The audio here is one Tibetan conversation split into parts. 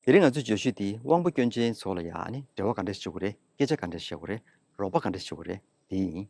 དེ་རིང་ང་ཚོས་བརྗོད་གཞི་འདི་དབང་པོ་སྐྱོན་ཅན་ཚོ་ལ་ཡང་ནི་འབྲེལ་བ་ག་འདྲས་བྱེད་དགོས་རེད་སྐད་ཆ་ག་འདྲས་བཤད་དགོས་རེད་རོགས་པ་ག་འདྲས་བྱེད་དགོས་རེད་དེ་ཡིན།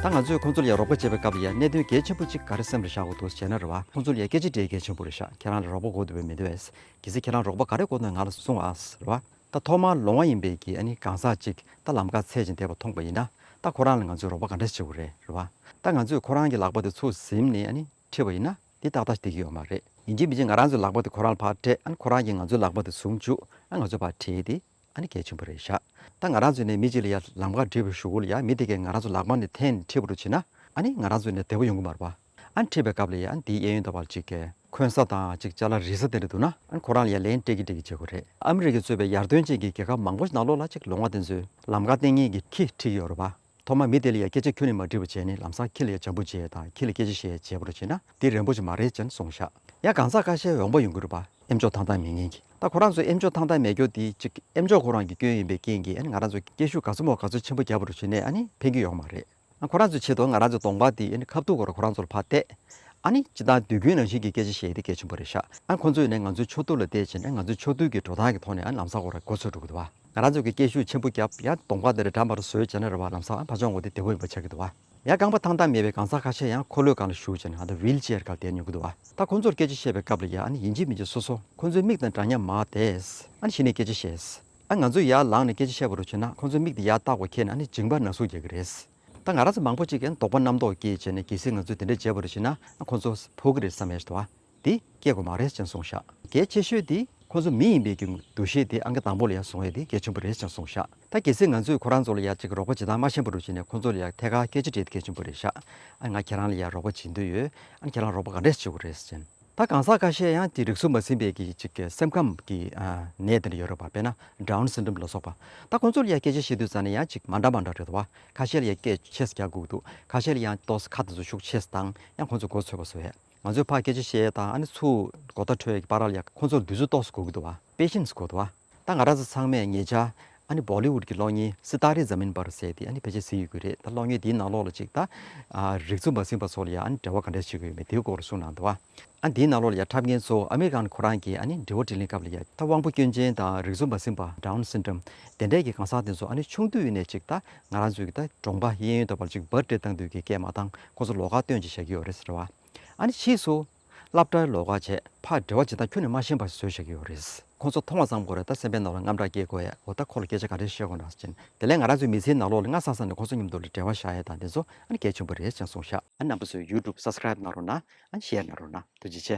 ད་ང་ཚོས་ཁོང་ཚོ་ལ་ཡང་རོགས་པ་བྱེད་པའི་སྐབས་ལ་ཡང་གནད་དོན་གལ་ཆེན་པོ་གཅིག་ག་རེ་སེམས་ལ་བཞག་དགོས་འདུག་ཟེར་ན་རེ་བ་ཁོང་ཚོ་ལ་ཡང་སྐད་ཆ་འདྲེ་གལ་ཆེན་པོ་རེ་བཞག་ཁྱེད་རང་ལ་རོགས་པ་གོ་འདོད་པས་མི་འདོད་པས་གལ་སྲིད་ཁྱེད་རང་རོགས་པ་ག་རེ་གོ་འདོད་ང་ལ་གསུང་ཨ་ཟེར་བ། ད་ཐོག་མར་ལོང་བ་ཡིན་པའི་གི་ཨ་ནི་གང་ཟག་ཅིག་ད་ལམ་ཁ་ཚད་ཅིག་འདས་པ་མཐོང་པ་ཡིན་ན་ད་ཁོ་རང་ལ་ང་ཚོས་རོགས་པ་ག་འདྲ་བྱེད་དགོས་རེད་རེད་བ། ད་ང་ཚོས་ཁོ་རང་གི་ལག་པ་དེ་ཚུར་གཟིམ་ནས་ཨ་ནི་ཁྲིད་པ་ཡིན་ན་འདི་ཏག་ཏག་འགྲིག་གི་ཡོད་མ་རེད། ཡིན་གཅིག་མིན་གཅིག་ང་རང་ཚོའི་ལག་པ་དེ་ཁོ་རང་ལ་ཕར་སྤྲད་ཨ་ཁོ་རང་གིས་ང་ཚོའི་ལག་པ་དེ་ཟུང་བཅུག་ཨ་ང་ཚོའི་བར་ཁྲིད་དེ་ཨ་ནི་གལ་ཆེན་པོ་རེད་བཞག་ད་ང་རང་ཚོས་ནས་མི་གཅིག་ལ་ཡར་ལམ་ཁ་འབྲི་བར་ཞུ་གོ་ལ་ཡར་མི་དེ་གས་ང་རང་ཚོའི་ལག་པ་ནི་འཐེན་ནས་ཁྲིད་པ་རུ་བྱེད་ན་ཨ་ནི་ང་རང་ཚོས་ནས་བདེ་བོ་ཡོང་གི་མ་རེད་བ། ཨན་ཁྲིད་པའི་སྐབས་ལ་ཡ་ཨན་དེའི་གཡས་གཡོན་དང་བར་གཅིག་གེ་ཁོན་ས་དང་གཅིག་ཅར་ལ་རི་ས་དེ་འདྲ་འདུག་ན་ཨན་ཁོ་རང་ལ་ཡ་ལེན་ཀྲེ་ཀི་ཀྲེ་ཀི་བྱེད་དགོས་རེད། ཨ་མི་རི་ཀས་གཙོས་པའི་ཡར་ཐོན་ཅན་གྱི་རྒྱལ་ཁབ་མང་པོ་ཞིག་ནང་ལོགས་ལ་ཅིག་ལོ་ང་དེ་ཚོའི་ལམ་ཁ་སྟེང་ངེད་ཀྱི་ཁི་ཁྲིད་ཀྱི་ཡོད་རོ་བ། ཐོག་མར་མི་དེ་ལ་ཡ་སྐད་ཆ་ཁྱོད་ནས་མ་དྲིས་པ་བྱས་ནས་ལམ་སང་ཁི་ལ་ཡ་ཇམ་པོ་བྱས་དང་ཁི་ལ་སྐད་ཆ་བཤད་བྱས་པ་རུ་བྱས་ན་འདི་རན་པོ་ཆེ་མ་རེད་ཅེན་སོང་ཤག་ཡ་གང་ཟག་ཁ་ཤས་འོང་པ་ཡོང་གི་རུ་བ། ཨེམ་ཆོག་ཐང་ཐང་མེད་ངེས་ཀྱིས་ད་ཁོ་རང་ཚོའི་ཨེམ་ཆོག་ཐང་ཐང་མེད་སྐྱོ་དེ་ཅིག་ཨེམ་ཆོག་ཁོ་རང་གི་སྐྱོན་ཡིན་པའི་རྐྱེན་གྱིས་ཨན་ང་རང་ཚོའི་སྐད་ཤུགས་ག་ཚོད་མོ་ག་ཚོད་ཆེན་པོ་རྒྱབ་པ་རུ་བྱས་ནས་ཨ་ནི་ཕན་གྱི་ཡོང་གི་མ་རེད། ཁོ་རང་ཚོའི་ཆེད་དུ་ང་རང་ཚོའི་གདོང་པ་འདི་ཁ་བརྡུང་བར་ཁོ་རང་ཚོར་ཕར་བལྟས། ཨ་ནི་ཅི་ལྟར་དུས་ཀུན་རང་བཞིན་གྱི་སྐད་ཆ་བཤད་དེ་སྐད་ཆེན་པོ་རེ་བཞག་ཨ་ཁོ་ཚོས་ནི་ང་ཚོའི་ཕྱོགས་བསྡུར་ལ་བལྟས་རྗེས་ནས་ང་ཚོའི་ཕྱོགས་བསྡུར་གྱི་འགྲོ་སྟངས་ཀྱི་ཐོག་ནས་ལམ་སང་བོ་ར་འགོ་ཚུགས་འགྲོ་གི་འདུག་བ། ང་རང་ཚོས་ཀྱི་སྐད་ཤུགས་ཆེན་པོ་བརྒྱབ་ཡང་གདོང་པ་འདི་རི་འགྲམ་པར་བཟོས་རྗེས་ནས་ར་བར་ལམ་སང་ཕར་ཕྱོགས་འགོ་དེ་བདེ་བོ་ཡིན་པ་ཆགས་ཀྱི་འདུག་བ། ཡང་རྐང་པ་ཐང་ཐང་མེད་པའི་གང་ཟག་ཁ་ཤས་ཡང་འཁོར་ལོའི་སྒང་ལ་བཞུགས་རྗེས་ནས་ཨ་ད་བྷིལ་ཅེར་གང་བསྡད་མྱོང་གི་འདུག་བ། ད་ཁོ་ཚོར་སྐད་ཆ་བཤད་པའི་སྐབས་ལ་ཡང་ཨ་ནི་ཡིན་གཅིག་མིན་གཅིག་སོ་སོ་ཁོ་ཚོའི་མིག་དང་འདྲ་མཉམ་མ་བལྟས། ཨ་ནི་གཞི་ནས་སྐད་ཆ་བཤད། ད་ང་ཚོས་ཡར་ལངས་ནས་སྐད་ཆ་བཤད་པ་རུ་བྱས་ན་ཁོང་ཚོའི་མིག་དེ་ཡར་བལྟ་བ་ཁེལ་ནས་ཨ་ནི་འཇིང་པ་ན་ཟུག་རྒྱག་གི་རེད། ད་ང་རང་ཚོ་མང་པོ་གཅིག་གིས་ཨ་ནི་དོགས་པ་རྣམ་རྟོག་སྐྱེས་བྱས་ནས་གལ་སྲིད་ང་ཚོས་དེ་འདྲ་བྱས་པ་རུ་བྱས་ན་ཨ་ཁོང་ཚོ་ཕོག་གི་རེད་བསམ་ཡས་ཟེར་བ་དེ་སྐྱེ་དགོས་མ་རེད་ཅེས་གསུངས་ཤག་གལ་ཆེ་ཤོས་དེ་ཁོང་ཚོ་མི་ཡིན་པའི་རྒྱུ་འདུ་ཤེས་དེ་ཨ་གི་དང་པོ་ལ་ཡར་བཟུང་ཡས་དེ་གལ་ཆེན་པོ་རེད་ཅེས་གསུངས་ཤག་ད་གལ་སྲིད་ང་ཚོས་ཁོ་རང་ཚོ་ལ་ཡར་གཅིག་རོགས་པ་བྱེད་སྟངས་མ་ཤེས་པ་རུ་བྱས་ནས་ཁོང་ཚོ་ལ་ཡར་ཐད་ཀར་སྐད་ཆ་འདྲི་དེ་གལ་ཆེན་པོ་རེད་ཤག་ཨ་ནི་ང་ཁྱེད་རང་ལ་ཡར་རོགས་པ་བྱེད་འདོད་ཡོད་ཨ་ནི་ཁྱེད་རང་རོགས་པ་ག་འདྲས་བྱེད་དགོས་རེད་ཟེར། ད་གང་ཟག་ཁ་ཤས་ཡང་དེ་རིགས་སུ་མ་ཟིན་པའི་གི་ཅིག་གི་སེམས་ཁམས་ཀྱི་ནད་དེ་འདྲ་ཡོད་རེད་བ་དཔེར་ན Down Syndrome ལ་སོགས་པ། ད་ཁོང་ཚོ་ལ་ཡང་སྐད་ཆ་བཤད་དུས་ཙང་ནས་ཡང་ཅིག་མ་འདྲ་མ་འདྲ་རེད་བ། ཁ་ཤས་ལ་ཡང་སྐད་ཆས་རྒྱག་སྒུག་འདུག་ཁ་ཤས་ལ་ཡང་ཏོ་ཁ་དེ་ཚོ་ཤུགས་ཆེ་སྟང་ཡང་ཁོང་ཚོ་མགོ་ཚོས་བ་སུ་ཧད། ང་ཚོས་ཕ་སྐད་ཆ་བཤད་ད་ཨ་ནི་ཚུ་གོ་ད་ཁྲོད་ཀྱི་པ་ར་ལ་ཡང་ཁོང་ཚོ་དུས་ཚོད་ཏོགས་སུ་སྒུག་གི་འདུག་བ Patience དགོས་འདུག་བ། ད་ང་ར་ས་ཚང་མས་ངེད་ཅག་ཨ་ནི་བོ་ལི་ཝུད་ཀྱི་གློག་བརྙན་སི་ཏཱ་རེ་ཛམིན་པར་ཟེར་ཏེ་ཨ་ནི་ཕལ་ཆེར་ཟིན་ཡོད་ཀྱི་རེད་ད་གློག་བརྙན་འདིའི་ནང་ལོགས་ལ་ཅིག་ད། རིག་མཛོད་འབའ་ཚིག་པ་ཚོ་ལ་ཡང་ཨ་ནི་འབྲེལ་བ་ག་འདྲས་བྱེད་དགོས་ཡོད་མེད་དེའི་སྐོར་ལ་གསུང་གནང་འདུག་ཨ་འདིའི་ནང་ལོགས་ལ་ཡང་འཁྲབ་མཁན་ཚོ་ཨ་མེ་རི་ཀཱན་ཁོ་རང་གིས་ཨ་ནི་འབྲེལ་བ་དྲིས་ལན་སྐབས་ལ་ཡང་ད་དབང་པོ་སྐྱོན་ཅན་དང་རིག་མཛོད་འབའ་ཚིག་པ Down Syndrome དེ་འདྲས་ཀྱི་གང་ཟག་དེ་ཚོ་ཨ་ནི་ཆུང་དུས་ནས་ཅིག་ད་ང་རང་ཚོའི་ད་གྲོང་པ་གཡས་གཡོན་དོ་པར་ཅིག་འབར་སྤྲད་བཏང་དུས་ཀྱི་སྐད་མ་དང་ཁོང་ཚོ་ལོགས་ཀ་སྟོན་ཅིག་བཞག་གི་ཡོད་རེད་ཟེར་བ། ཨ་ནི་ཕྱིས་སུ། སླབ་གྲྭའི་ལོ་ཁ་ཆད་ཕར་འབྲེལ་བ་བྱེད་སྟངས་ཁྱོན་ནས་མ་ཤེས་པར་བཟོས་བཞག་གི་ཡོད་རེད། ཁོང་ཚོ་མཐོང་བ་ཙམ་གོ་རེ་ད་སེམས་པའི་ནང་ལ་རྔམ་སྐྲག་སྐྱེས་དགོས་ཡས་འོ་ད་ཁོ་ལ་སྐད་ཆ་ག་རེ་བཤད་དགོས་ན་ཅན་དེ་ལས་ང་རང་ཚོའི་མི་ཚེའི་ནང་ལོག་ལ་སྔ་སང་སང་ནས་ཁོང་ཚོ་མཉམ་དུ་ལ་འབྲེལ་བ་བཞག་ཡས་དང་དེ་ཚོ་ཨ་ནི་གལ་ཆེན་པོ་རེད་ཅན་གསུངས་ཤག། ཨ་ནམ་པོ་ཚོའི YouTube Subscribe གནང་རོགས་ན་ཨ Share གནང་རོགས་ན་ཐུགས་རྗེ་ཆེ།